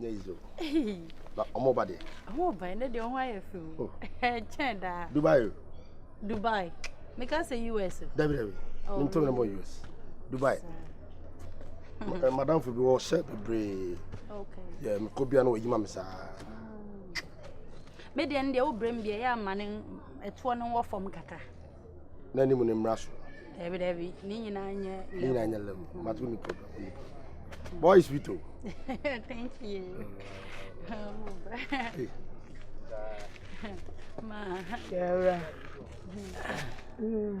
nyɛ yi so na ɔmo ba deɛ. ɔmo ba ɛnɛ deɛ ɔmo ayɛ fɛ o ɛkyɛn daa. dubai o. dubai meka sɛ us o. dabi dabi ne ntɛm na mo us dubai madamfo bi wɔ hyɛ bebree yɛ mekɔ bia na wɔyi ma me saa. me deɛ no deɛ wobrɛ mu deɛ ɛyɛ ama no ɛtoɔ no wɔ fam kakra. n'anim ne mmara so. Dabi dabi, ne nyinaa nyɛ level. Ne nyinaa nyɛ level. Mm. Matu ne problem. Ne problem. Boy is sweet o. Thank you. Ma. Yara. Mm.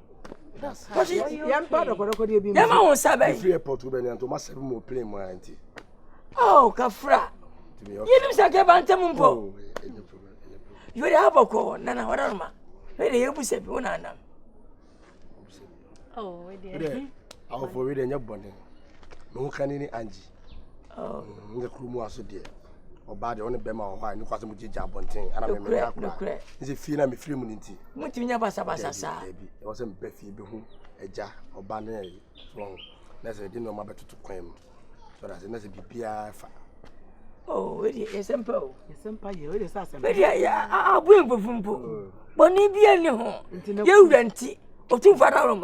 Kasi yɛn ba dɔkɔdɔkɔdeɛ bi mu. Yɛn ma wɔn nsa bɛyi. Efiri airport bɛ nea ntoma sɛbi mu plane mu ayɛ nti. Oh kafra. Yɛn nim sɛ kɛ ba ntɛm mpo. Oh, yɛ de abɔ kɔ nana wɔdɔ no ma. Yɛ de yɛ bu sɛbi wɔn anam. Oh, wɛ deɛ. Awofo wɛ deɛ nyɛ bɔnɛ. Mo kan ni anji. Nyɛ kuro mu ase deɛ ɔbaa deɛ ɔne bɛrima wɔ hɔ a ne kwasɛ mu gyegye abɔnten ana mɛmɛ ne akora ne sɛ fie na mefiri mu ne nti motumi nya basabasa saa daabi ɛwɔ sɛ mebɛ fie bɛhu agya ɔba ne ayi so na sɛ de nneɛma bɛtoto kwan mu so da sɛ na sɛ biribiara fa Oh, wait, yes, I'm poor. Yes, I'm poor. Yes, I'm poor. Yeah, I'm poor. But if you're not home, you're renting. Or two for a room.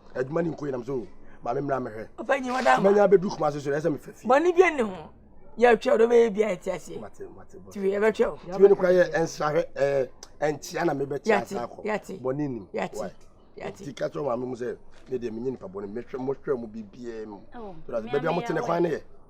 Adwuma ni nko yɛ nam so maame mmra mehwɛ. Ɔpɛ nyi wɔda ama. Manya abɛduru kuma ase so ɛsɛ mefɛ fie. Bɔne bi ne ho. Yɛ twɛ ɔdɔ bɛyɛ bi a ɛte ase. Mate mate bɔ. Tiwe ɛbɛ twɛ o. Tiwe no kura yɛ ɛnsrahwɛ ɛɛ ɛnkyia na mebɛ tia asa akɔ. Yate bɔne nim. Yate yate. Ti kakyɛ wɔn maame mu sɛ ne deɛ menye nipa bɔne mehwɛ mo hwɛ mo bibiara mu. Bɛbi a mo te ne kwan ne yɛ.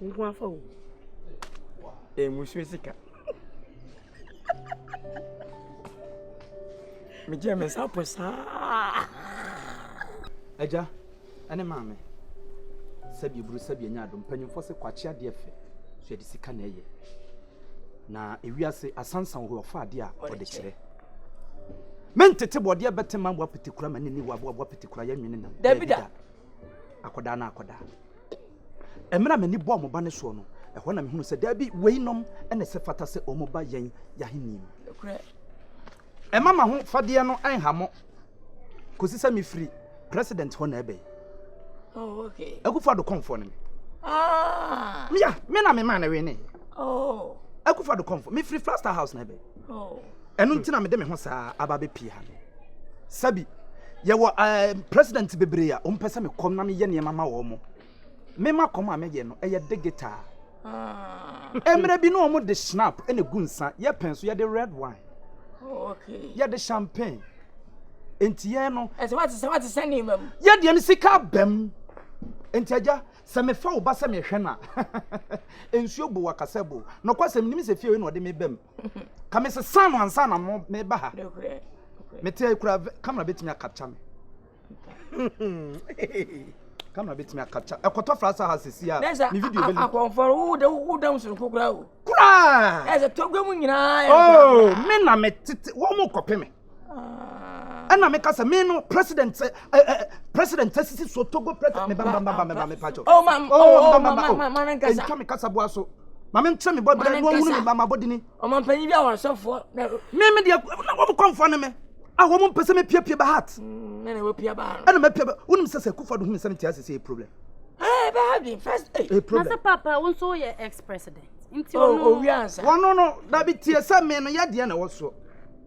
Nko afa o. Eh, musuo sika. Megye me nsa po saa. Agya, ɛne maame. Sɛbi eburu sɛbi enya adom. Mpanyinfoɔ se kwakye adeɛ fɛ. So ɛde sika na ɛyɛ. Na ewiase asansan hɔ ɔfa adeɛ a ɔde kyerɛ. Mentete bɔdeɛ bɛte ma boa petekura ma ne ni wa boa boa petekura yɛ nwene na. Dabi da. Akɔdaa na akɔdaa. Mmerɛ a m'ani bɔɔ mo ba no soɔ no, ɛhɔ na mehunuu sɛ daabi, wei nom na ɛsɛ fata sɛ wɔn ba yɛn y'ahennie mu. Nokorɛ, mma m'aho fadeɛ no nha mo, kɔsi sɛ me firi President hɔ na ɛbɛn. Oh, okay. Akufo Addo kɔnfoɔ no me. Ah. Me ya, me na me maa no wene. Oh. Akufo Addo kɔnfoɔ, me firi Flaster House na ɛbɛn. ɛno nti na mede me ho saa aba bɛpie ha no sɛbi yɛwɔ eh, president bebree a ɔmpɛ sɛ mekɔm na meyɛ nneɛma ma wɔ mo mema kɔm a mɛyɛ no ɛyɛ digital ah. mmerɛ bi ne ɔmo de snap ɛna gu nsa yɛpɛn so yɛde red wine yɛde champagne nti yɛn no yɛdeɛ no sika bɛm nti agya Sɛ mefa wo ba sɛ mehwɛ no a, nsuo bo wakasa bo. Nokwasɛm, menim sɛ fie wei na ɔde me bam. Ka mesesa no ansa na meba ha. Mete ayi kura kamera bɛtumi akapkya me. kamera bɛtumi akapkya. Ɛkɔtɔ frasa ha sisi a, me video bɛli. Akɔmfɔro, wodam sononko koraa o. Koraa! Ɛsɛ tɔgwa mu nyinaa. Oh, me na metete, wɔn kɔpe me. ɛna meka sɛ me no president eh, eh, eh, president asisi so togo president meba mba mba mba me pacho oh mam oh mba mba oh ɛntwa me kasa boa so maame nkyerɛ me bɔ brɛ no ahunu me mba mabɔ dini ɔmampanyin bi a wɔasɔfoɔ me me deɛ na wɔm kɔmfoɔ ne me a wɔm mpɛ sɛ mepiapia ba heart mm, ɛna mapia ba heart ɛna mapia ba wonim sɛ sɛ kufa do hu me sɛ mete ase sɛ problem ɛɛ bɛ ha bi first ɛɛ problem na sɛ papa wo nso woyɛ ex president nti ɔno oh, oh, wɔno no dabi tie sɛ me no yɛdeɛ na ɛwɔ soɔ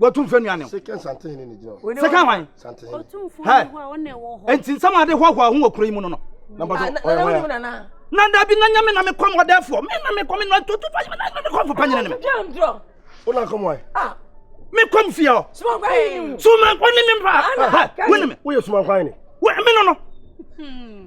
wɔtum fɛ nuane sɛka wan nti nsɛm ade hoahoa ho wɔ kuro yi mu no no na da bi na nyame na mekɔ mɔdɛfoɔ mena mekɔ me nɔntoto fa nyame na mekɔ fopa nyina ne me mekɔ m fie hɔ sumankɔ ne me mpa wone me woyɛ sumankwan ne me no no hmm.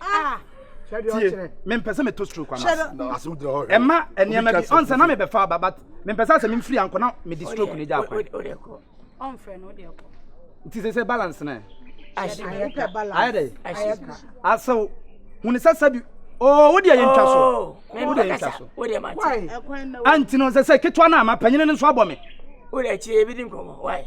Ah! tie mempɛ sɛ meto stroke ana ɛma nneɛma bi ɔnsɛ na mebɛfa aba but mempɛ sɛ sɛ memfiri ankɔ na mede stroke no gya akwan nti sɛ sɛ balance no ayɛ dɛ asew hune sɛ sɛbi Oh, wode yɛ ntwa so. Oh, wode yɛ ntwa so. Wode ma te. Anti no sɛ sɛ ketewa na ama panyin no nso abɔ me. Wode akyire ebi di nkɔmɔ. Why?